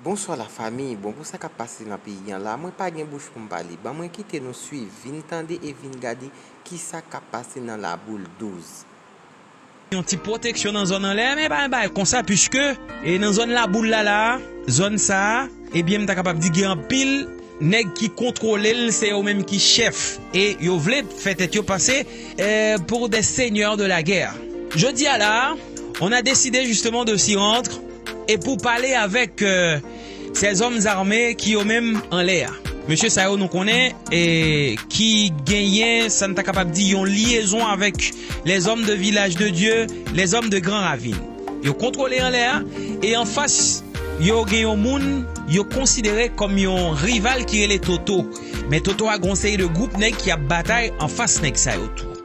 Bonswa la famille bon pou sa kap pase nan peyi an la mwen pa gen bouch poum pale ban mwen kite nou swiv vin tande e vin gade kisa kap pase nan la boule 12. yon ti pwoteksyon nan zòn anlè a men pa yon bagay konsa puiske e nan zòn laboul la la a zòn sa a ebyen m ta kapab di gen anpil nèg ki kontwole l se yo menm ki chèf e yo vle fè tèt yo pase pour des seigneurs de la guerre jodi a la a on a deside justement de s'y rendre. E pou pale avèk sè zòm zame ki yo menm anlè a. Mesye sa yo nou konnen ki genyen sa n ta kapab di yon lyezon avèk lèzòm de vilaj de Dye, lèzòm de gran ravin. Yo kontwole anlè a e anfas yo gen yon moun yo konsidere kòm yon rival ki rele Toto. Men Toto a gen yon seri de gwoup nèg ki ap batay anfas nèg sa yo tou.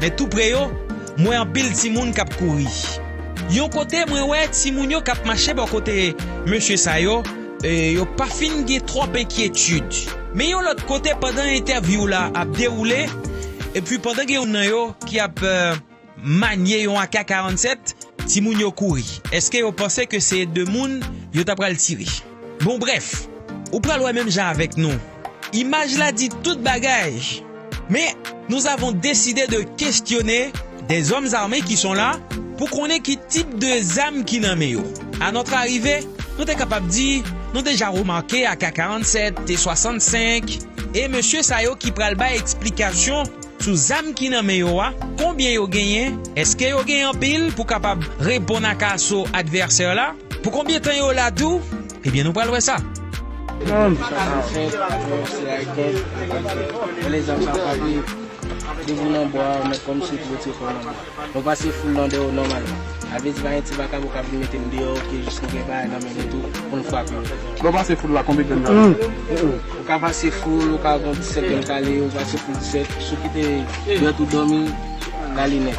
Men tou pre yo, m wè anpil timoun k ap kouri. Yon kote, mwen wè timoun yo k ap mache bò kote mesye sa yo, yo pa fin gen twòp enkyetid. Men yon lòt kote, pandan entèvyou w la ap dewoule, epi pandan gen youn nan yo ki ap manye yon AK-47, timoun yo kouri. Èske yo panse ke se de moun yo ta pral tire? Bon brèf, ou pral wè menm jan avèk nou, imaj la di tout bagay. Men, nous avons décidé de questionner des hommes armés qui sont là pou konnen ki tip de zam ki nan men yo. A notre arrivée, nou te kapab di nou deja remake AK-47, T-65 e mesye sa yo ki pral bay eksplikasyon sou zam ki nan men yo a, konbyen yo genyen, eske yo gen anpil pou kapab reponn ak aso advèsè la. Pou konbyen tan yo la tou? Ebyen nou pral wè sa. Moun ki pa ka fèt yo se Haitien ki pa ka fèt. Bèl egzanp sa frape depi ou nan bwa ou mèt kòmsi ou t retire kòw nan bwa. Mwen pase foul lan dèyè ou nòmalman. Sa vle di pa gen ti vakabon k ap vin mete m deyò ok jis nou gen bagay nan men nou tou pou n frape yo. Lè w pase foul la konbyen grenn kale? Ou ka pase foul ou ka gon 17 grenn kale ou pase foul 17 sou kite dwèt ou dòmi kale nèt.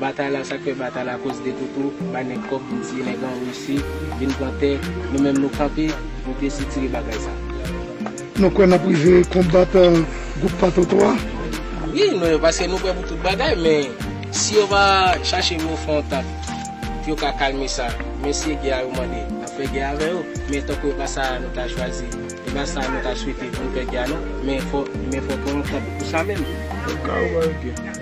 Batay la sak fè batay la koz detoto bay nèg kòb vin tiye nèg an russi vin pran tè nou menm nou kanpe nou desitire bagay sa. Nou kwè nap rive konbat group patoto a? Wi nou yo paske nou prè pou tout bagay men si yo pa chache vin fè yon tant pou yo ka kalme sa men se gè a yo mande nap fè gè avè yo men tankou epa sa nou ta chwazi epa sa nou ta swete poun fè gè a non men fò men fò pran yon tant pou sa menm.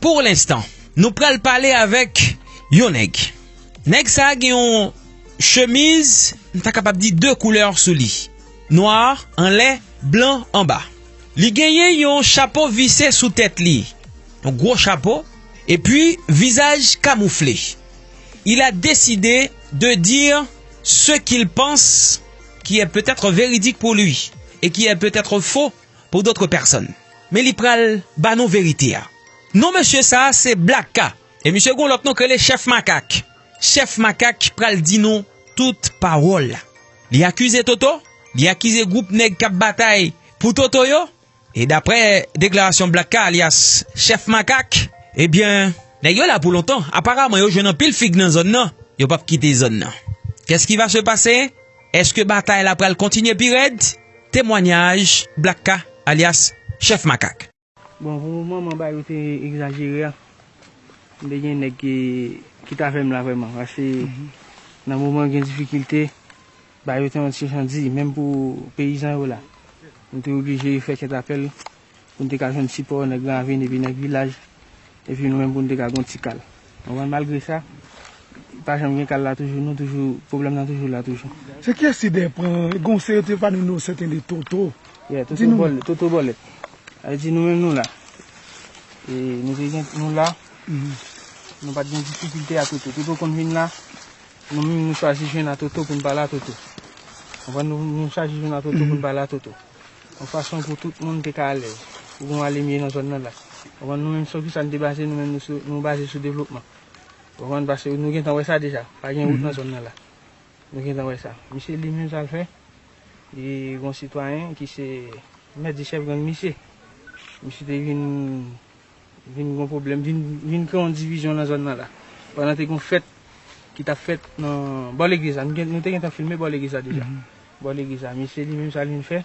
Pour l'instant nou pral pale avèk yon nèg. Nèg sa gen yon chemiz m ta kapab di 2 koulè sou li. Nwa anlè, blan anba. Li genyen yon chapo vise sou tèt li. Yon gwo chapo. E pi vizaj kamoufle. Il a deside de dire ce qu'il pense qui est peut-etre véridique pour lui et qui est peut-etre faux. pou dotre pèsòn. Men li pral ba nou verite a. Non mesye sa a se Black K. E misye gen yon lòt non k rele Chèf Makak. Chèf Makak pral di nou tout pawòl. Li akize Toto, li akize gwoup nèg k ap batay pou Toto yo. E daprè deklarasyon Black K alyas Chèf Makak, ebyen nèg yo la pou lontan. Aparaman yo jwenn anpil fig nan zòn nan. Yo p ap kite zòn nan. Kès ki va se pase? Eske batay la pral kontinye pi rèd? Temwanyaj Black K alyas Chèf Makak. Bon pou moman mwen bay ou te egzajere a. M te gen nèg ki t avè m la vrèman. Pase nan moman gen difikilte, bay ou te yon ti jan di. Menm pou peyizan yo la. M te oblije fè kèt apèl. pou n te ka jwenn sipò nan gran aveni epi nan vilaj, epi nou menm pou n te ka gen yon ti kal. Ou konprann? Malgre sa, pa janm gen kal la toujou, nou toujou, pwoblèm nan toujou la toujou. Se kiyès ti dèy pran? Gen yon seri te pale nou sèten de Toto. Yeah, Toto Bòlèt, Toto Bòlèt. Sa vle di nou menm nou la. E nou te gen, nou la, nou pa t gen difikilte a Toto. Toto konn vin la, nou menm nou chwazi jwenn a Toto pou n pale a Toto. Ou konprann? Nou chwazi jwenn a Toto pou n pale a Toto. Yon fason pou tout moun te ka alèz, pou gen yon alimye nan zòn nan la. Ou konprann? Nou menm sou kisa nou te baze nou menm? Nou baze sou devlopman. Ou konprann? Pase nou gentan wè sa deja. Pa gen wout nan zòn nan la. Nou gentan wè sa. Misye li menm sa l fè, li gen yon sitwayen ki se mèt di chèf gang misye. Misye te vin. Vin gon pwoblèm, vin kreye yon divizyon nan zòn nan la. Pandan te gon fèt ki tap fèt nan bò legliz la. Nou te gentan filme bò legliz la deja. Bò legliz la. Misye li menm sa li vin fè.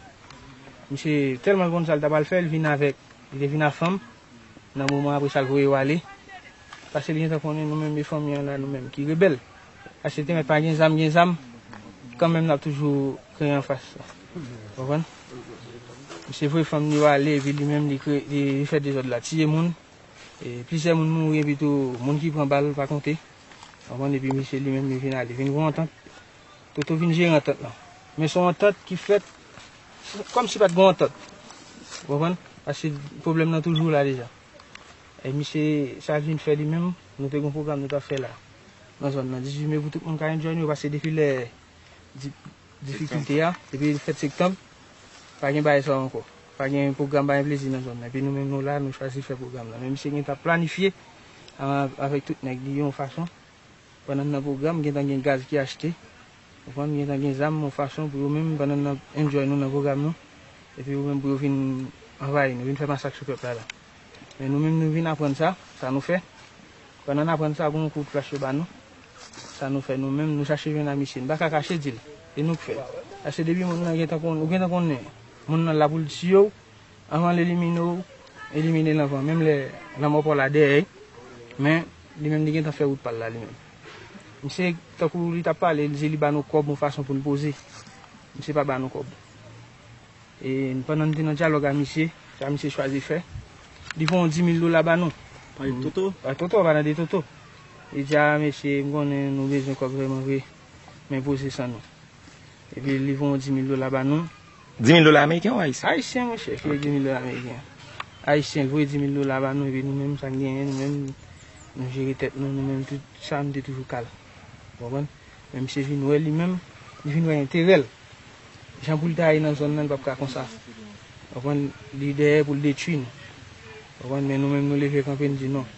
Misye tèlman konn sa li ta pral fè, li vin avèk. Li te vin ak fanm. Nan moman apresa li voye yo ale. Pase li gentan konnen nou menm 2 fanmi an la nou menm ki rebèl. Achte teren pa gen zam gen zam kan menm nap toujou kreye anfas la ou konprann misye voye fanm li yo ale epi li menm li fè dezòd la tiye moun plizyè moun mouri epi tou moun ki pran bal pa konte ou konprann epi misye li menm li vin ale vin gon antant Toto vin jere antant lan men son antant ki fèt kòmsi pat gon antant ou konprann paske pwoblèm nan toujou la deja misye sa l vin fè li menm nou te gon pwogram nou tap fè la. nan zòn nan. 18 me pou tout moun ka enjoy nou yo pase depi lè difikilte a, depi fèt sektanb, pa gen bagay sa yo ankò. Pa gen pwogram pa gen plezi nan zòn nan. Epi nou menm nou la nou chwazi fè pwogram nan. Men misye gen tan planifye avèk tout nèg li yon fason pandan n nan pwogram gen tan gen gaz ki achte, ou konprann, gen tan gen zam yon fason pou yo menm pandan n nan enjoy nou nan pwogram nou epi yo menm pou yo vin anvayi nou, vin fè masak sou pèp la la. Men nou menm nou vin aprann sa, sa nou fè. Pandan n aprann sa, gen yon kout flach yo ba nou. Sa nou fè nou menm? Nou chache jwenn a misye. Nou pa ka kache di l. E nou k fè? Paske depi moun nan gentan konn, ou gentan konnen moun nan la pou l tiye w, anvan l elimine w, elimine l anvan. Menm lè lanmò pa w la dèyè l, men li menm li gentan fè wout pa l la li menm. Misye, tankou li t ap pale, li di li ba nou kòb yon fason pou n poze. Misye pa ba nou kòb. E pandan n te nan dyalòg a misye, sa misye chwazi fè, li pran yon dimil dola ba nou. Pa de toto? Pa toto, pa nan de toto. Li di a, mesye, m konnen nou bezwen kòb vrèman vre, men poze san nou. Epi li pran yon dimil dola ba nou. Dimil dola ameriken ou ayisyen? Ayisyen, monchè, ki vle dimil dola ameriken. Ayisyen voye dimil dola ba nou, epi nou menm sa n genyen, nou menm nou jere tèt nou, nou menm tout sa nou te toujou kal. Ou konprann? Men misye vin wè li menm, li vin wè enterèl. Jan poul ta ye nan zòn nan li pap ka konsa. Ou konprann, li dèyè poul detwi nou. Ou konprann, men nou menm nou leve kanpe nou di non.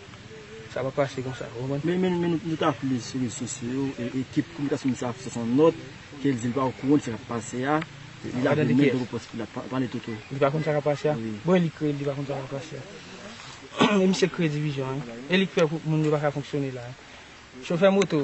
Sa pap pase konsa, ou konprann. Men nou ta vle sou rezo sosyo yo, ekip kominikasyon misye a sòti yon nòt kel di li pa okouran de sa kap pase a. Li lage men dlo pòs pou li pale tout ou. Li pa konn sa kap pase a? Bon e li kreye li pa konn sa kap pase a. E misye kreye divizyon an. E li k fè moun yo paka fonksyone la. Chofè moto,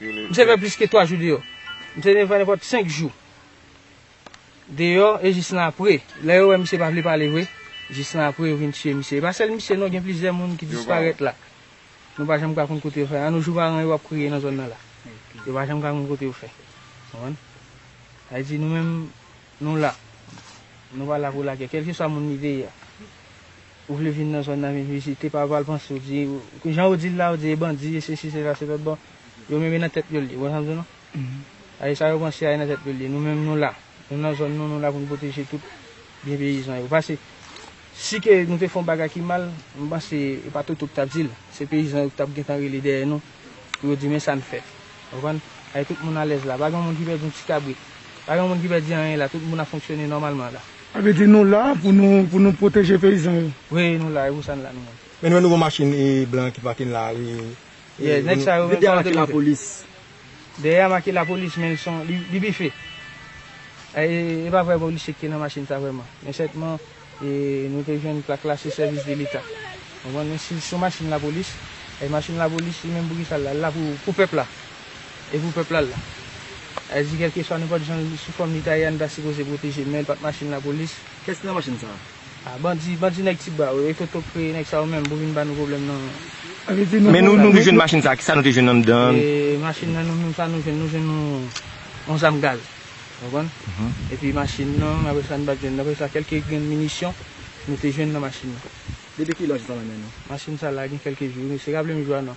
M te fè plis ke 3 jou deyò. M te fè nenpòt 5 jou deyò e jis nan apre, lè yo wè misye pa vle pale vre, jis nan apre yo vin tiye misye. E pa sèl misye non, gen plizyè moun ki disparèt la. Nou pa janm ka konn kote yo fè. An nou jou paran yo ap kriye nan zòn nan la. Yo pa janm ka konn kote yo fè. Konprann? Sa vle di nou menm. Nou la. Nou pa la pou lagè. Kèlkeswa moun li te ye a. Ou vle vin nan zòn nan vin vizite, pa pral panse ou di, jan ou di l la, ou di e bandi, e sesi, se sa, se lòt. Bon, yo menm e nan tèt yo l ye. Ou konprann sa m di w non? A e sa yo panse a e nan tèt yo l ye. Nou menm nou la. Nou nan zòn nou, nou la pou n pwoteje tout byen peyizan yo. Pase. Si ke nou te fè yon bagay ki mal, m panse e pa Toto k t ap di l, se peyizan yo k t ap gentan rele dèyè nou pou yo di men sa n fè. Ou konprann? Ay tout moun alèz la, pa gen yon moun ki pèdi yon ti kabrit, pa gen yon moun ki pèdi anyen la, tout moun ap fonksyone nòmalman la. Sa vle di nou la pou nou pou nou pwoteje peyizan yo? Wi, nou la, e pou sa n la nou menm? Men nou wè nouvo machin blan ki pake la a? Yè, nèg sa yo menm sa yo te mete? Dèyè a make lapolis men son li bife. E pa vrè polisye ki te nan machin sa vrèman. Men sètman nou te jwenn plak la se sèvis de leta. Konprann men si son machin lapolis, e machin lapolis li menm pou kisa l la? L la pou pèp la. E pou pèp la l la. Sa vle di kèlkeswa nenpòt jan sou fòm li ta ye a nou ta sipoze pwoteje l men l pat machin lapolis. Kiyès ki nan machin sa? Ah bandi bandi nèg ti bwa yo ekoto kreye nèg sa yo menm pou vin ba nou problèm nan. Men nou te jwenn machin sa kisa nou te jwenn anndan. Machin nan nou menm sa nou jwenn nou jwenn yon zam gaz ou konprann epi machin nan apre sa nou pat jwenn apre sa kèlke grenn minisyon nou te jwenn nan machin nan. Depi kilè zam nan men nou. Machin sa la gen kèlke jou wi mesye raplem jou a non.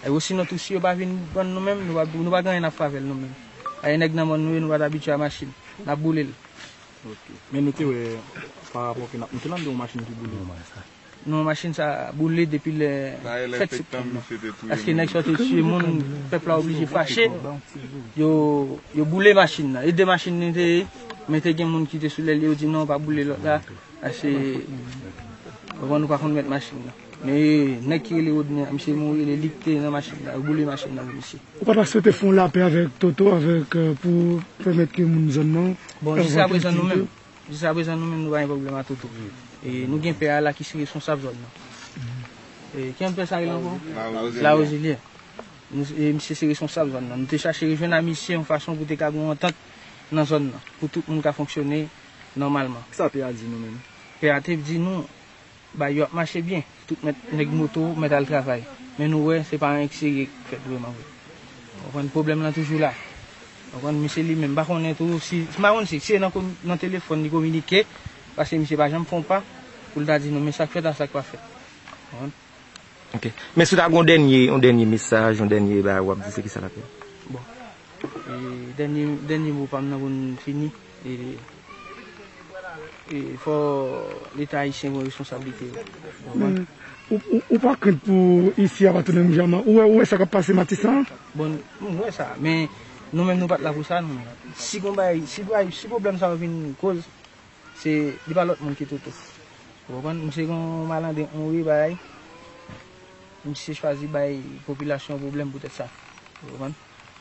E osinon tou si yo pa vin bann nou menm, nou pa gen anyen n ap fè avè l nou menm. Ayè nèg nan mòn nou ye, nou pa t abitye a machin. N ap boule l. Ok. Men nou te wè pa rapò ke n ap monte la, nou te wè yon machin ki boule. Non, machin sa a boule depi le 7 septanm nan. Paske nèg sa yo te tiye moun, pèp la oblije fache, yo boule machin nan. E de machin li te ye, men te gen moun ki te sou lèl yo, yo di non pa boule lòt la, paske nou pa konn mèt machin nan. Men nèg ki rele rodney a misye mouri li lik te nan machin nan yo boule machin nan pou misye. Ou pata swete fon lapè avèk toto avèk pou pèmèt ke moun zòn nan Bon jiska prezan nou menm jiska prezan nou menm nou pa gen pwoblèm a toto e nou gen pè a la ki se responsab zòn nan e ki yon pè sa rele ankò lawozelye e misye se responsab zòn nan nou te chache rejwenn a misye yon fason pou te ka gen yon antant nan zòn nan pou tout moun ka fonksyone nòmalman. Kisa pè a di nou menm? Pè a te di nou. Bay yo ap mache byen, tout mèt nèg moto mèt al travay, men nou wè se pa anyen serye k fèt vrèman vre. Ou konprann pwoblèm lan toujou la. Ou konprann, misye li menm m pa konnen tou si, m pa konn si se nan komi, nan telefòn li kominike, paske misye pa janm fè yon pa pou l ta di nou men sa k fèt a sa k pa fèt. Ou konprann? Ok. Men si w ta gen yon dènye, yon dènye mesaj, yon dènye bagay w ap di se kisa l ap ye? Bon, e dènye, dènye mo pa m nan pou n fini. E fò leta ayisyen pran responsablite yo. Men, ou pa krent pou isi a pa tounen menm jan an? Ou wè sa k ap pase Matisan an? Bon, m wè sa. Men, nou menm nou pa t la pou sa nou menm. Si gon bagay, si bay, si pwoblèm sa yo vin koz, se, li pa lòt moun ki toto. Ou konprann? Misye gen yon malandren, yon vye bagay, misye chwazi bay popilasyon an pwoblèm poutèt sa. Ou konprann?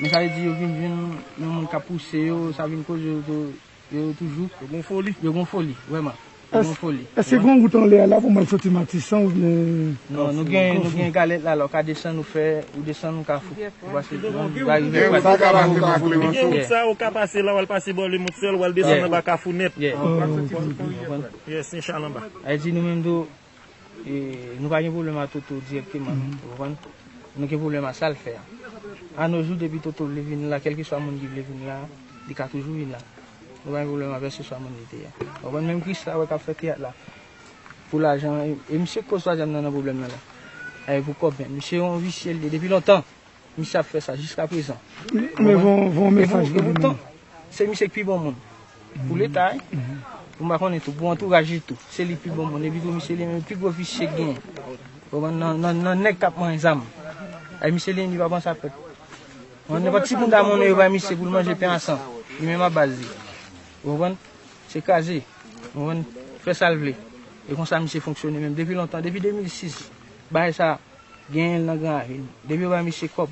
Men sa vle di yo vin jwenn yon moun k ap pouse yo, sa vin koz yo yo toujou. Yo gon foli. Yo gon foli, vrèman. Yo gon foli. Èske gen yon wout anlè a la pou mwen soti Matisan oubyen. Non, nou gen nou gen galèt la la ou ka desann ou fè ou desann ou kafou. Ou pase Gen yon wout sa a ou ka pase la w al pase bò Lemond sèl w al desann anba kafou nèt. Ou konprann? Yes, Inchallah anba. Sa vle di nou menm tou Nou pa gen pwoblèm a Toto dirèkteman non, ou konprann? Nou gen pwoblèm a sa l fè a. A no jou, depi Toto vle vin la, kèlkeswa moun ki vle vin la a, li ka toujou vin la. Nou pa gen pwoblèm avè seswa moun li te a. Ou konprann? Menm Kris la a wè k ap fè teyat la pou lajan, e misye k koz twazyèm nan nan pwoblèm nan la a. E pou kòb menm. Misye yon visye l ye depi lontan. Misye ap fè sa jiska prezan. Mwen voye mesaj pou li menm. Se misye ki pi bon moun. Pou leta wi. Pou m pa konnen tou. Pou antouraj li tou. Se li ki pi bon moun. Epi tou misye li menm se pi gwo visye ki genyen. Ou konprann? Nan nèg k ap manye zam. Ay misye li menm li pa panse a pèp. Nenpòt ti moun ta monnen yo bay misye pou l manje pen a san. Li menm ap baz li. Ou konprann? Se kraze. Ou konprann? Fè sa l vle. E konsa misye fonksyone menm. Depi lontan. Depi 2006. Bagay sa. Genyenl nan gran avil. Depi yo bay misye kòb.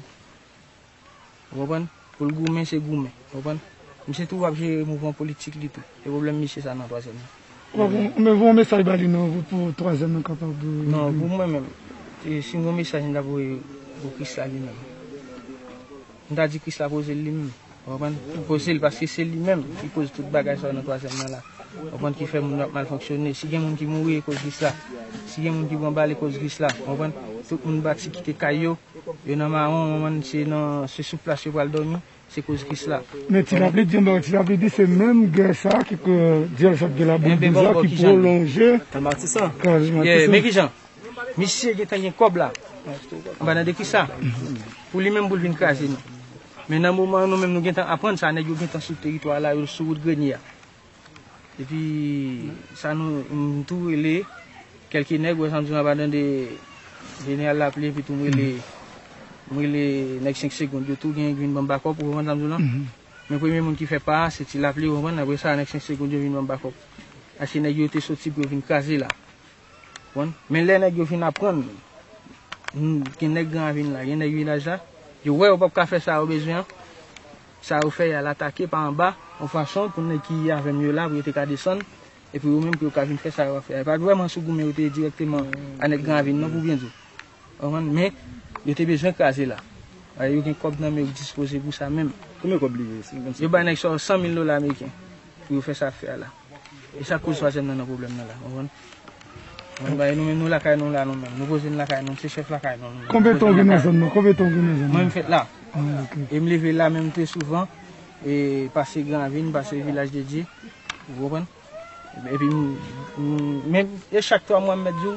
Ou konprann? Poul goumen se goumen. Ou konprann? Misye tou ap jere mouvman politik li tou. Se pwoblèm misye sa nan twazyèm nan. Mwen voye yon mesaj ba li non pou twazyèm nan kapab vini. Non, pou mwen menm. Sim gen yon mesaj m tap voye pou krisla li menm. M ta di krisla pozel li menm. Ou konprann? Ki koze l paske se li menm ki koz tout bagay sa yo nan twazyèm nan la. Ou konprann? Ki fè moun yo ap mal fonksyone. Si gen moun ki mouri ekoz vis la. Si gen moun ki pran bal ekoz vis la. Ou konprann? Tout moun bati kite kay yo. Yo nan mawon ou konprann se nan se sou plas yo pral dòmi. Se koz vis la. Men ti lapli di yon bagay. Ti lapli di se menm gè sa ki ke dyòl sa t gen la boul douz la ki pwolonje. Kal matisan. Kal matisan. Men kijan misye gentan gen kòb la. Anba nan de kisa? Pou li menm pou l vin kraze nou. Men nan moman an nou menm nou gentan aprann sa nèg yo gentan sou teritwa a la yo sou wout Grenie a. Epi sa nou m tou rele kelke nèg ou wè sa m di w anba dan de General Lapli epi tou m rele m rele nèg 5 segond yo tou genyen ki vin banm bakòp ou konprann sa m di w lan. Men premye moun ki fè pa a se Ti Lapli ou konprann aprè sa nèg 5 segond yo vin banm bakòp. Paske nèg yo te soti pou yo vin kraze la. konn. Men lè nèg yo vin aprann, gen nèg Gran Ravin la, gen nèg Vilaj la, yo wè yo pap ka fè sa yo bezwen an, sa yo fè, y al atake pa anba, yon fason pou nèg ki avè m yo la, pou yo te ka desann, e pou yo menm pou yo ka vin fè sa yo ap fè a. Yo pa t vrèman sou goumen yo te dirèkteman a nèg Gran Ravin non pou byen di w. Ou konprann? Men, yo te bezwen kraze la. Paske yo gen kòb nan men yo ki dispoze pou sa menm. Konbyen kòb li ye? Yo bay nèg sa yo 100 mil dola ameriken pou yo fè sa y ap fè a la. E sak koz twazyèm nan nan pwoblèm nan la konprann. Konprann bagay nou menm nou lakay nou la nou menm nou poze n lakay nou se chèf lakay nou nou menm. Konbyen tan ou gen nan zòn nan konbyen tan ou gen nan zòn nan. Mwen m fèt la. E m leve la menm tou souvan e pase gran ravin pase vilaj de dye ou konprann. Epi m menm e chak twa mwa m mèt di w.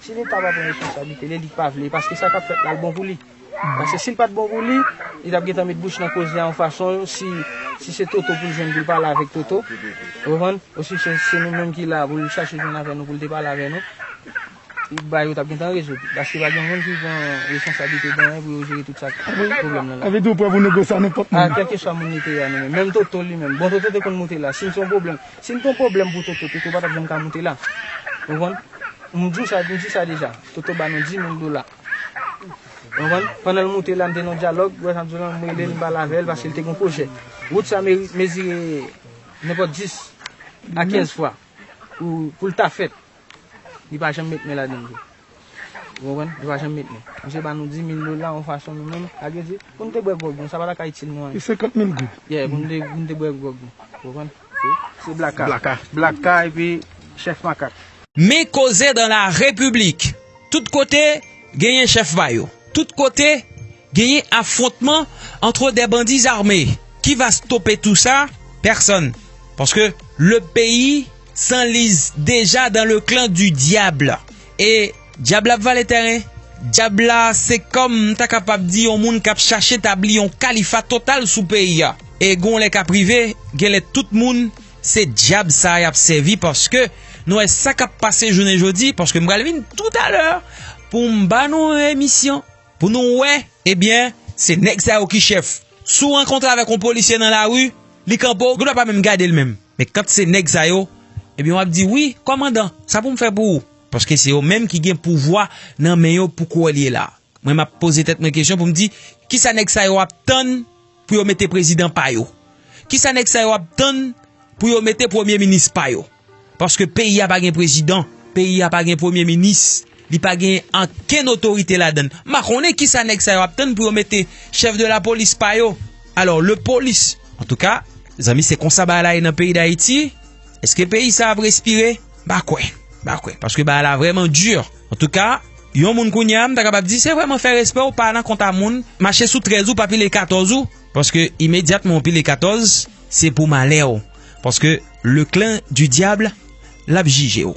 Si leta pa pran responsablite li, li k pa vle paske sa kap fèt la l bon pou li. Paske si l pat bon pou li, li tap gentan met bouch nan koze a yon fason si se Toto pou l jwenn pou l pale avèk Toto, ou konprann? Ou si se nou menm ki la pou l chache jwenn avè nou pou l te pale avè nou, bagay yo tap gentan rezoud. Paske pa gen moun ki pran responsablite de anyen pou yo jere tout sa k pwoblèm nan la. Sa vle di ou prè pou negosye a nenpòt moun. A kèlkeswa moun li te ye a nou menm. Menm Toto li menm. Bon Toto te konn moute la. Si l se yon pwoblèm. Si m te yon pwoblèm pou Toto, Toto pa t ap janm ka moute la. Ou konprann? M di w sa, m di sa deja. Toto ba nou dimil dola. Ou konprann? Pandan l moute la, m te nan yon dyalòg, wè sa m di w la, m rele l, m pale avè l, paske l te gen yon pwojè. Wout sa mezi, mezire nenpòt dis a kenz fwa pou l ta fèt. Li pa janm met men ladan l. Ou konprann? Li pa janm met men. Misye ba nou 10,000 dola yon fason nou menm, ak yo di, pou nou te bwè gwòg nou. Sa pa ta ka itil nou anyen. Se 50,000 goud. Yeah, pou nou te bwè gwòg nou. Ou konprann? Se Blaka. Blaka. Blaka epi Chèf Makak. Men koze dans la République. Tout kote, genyen chèf pa yo. Tout kote, genyen afwontman antre des bandits armés. Ki va stope tou sa? Pèsonn. Paske le peyi. San liz deja dan le klan di dyab e dyab la ap vale tèren. Dyab la se kòm m ta kapab di yon moun k ap chache tabli yon kalifa total sou peyi a. E gon lè k ap rive, gen lè tout moun se dyab sa a y ap sèvi paske nou wè sa k ap pase jounen jodi paske m pral vin toutalè pou m ba nou yon emisyon pou nou wè ebyen se nèg sa yo ki chèf. Si w rankontre avèk yon polisye nan lari, li kanpe w, gen lè w pa menm gade l menm. Men kant se nèg sa yo, ebyen wap di wi, kòmandan, sa pou m fè pou ou? Paske se yo menm ki gen pouvwa nan men yo pou kouwè l ye la. Mwen map poze tèt mwen kesyon pou m di, ki sa nèg sa yo ap tann pou yo mete prezidan pa yo? Ki sa nèg sa yo ap tann pou yo mete premye minis pa yo? Paske peyi a pa gen prezidan, peyi a pa gen premye minis. Li pa genyen ankenn otorite ladan l. M pa konnen ki sa nèg sa yo ap tann pou yo mete chèf de la polis pa yo. Alò, le polis. An tou ka, mezanmi se konsa bagay la ye nan peyi Dayiti? Eske peyi sa ap respire? M pa kwè. M pa kwè. Paske bagay la vrèman dur. An tou ka, yon moun kounye a, m ta kapab di se vrèman fè respè w pa nan kont a moun. Mache sou 13 ou pa pile 14 ou. Paske imedyatman ou pile 14, se pou malè w. Paske le clan du diable l ap jije w.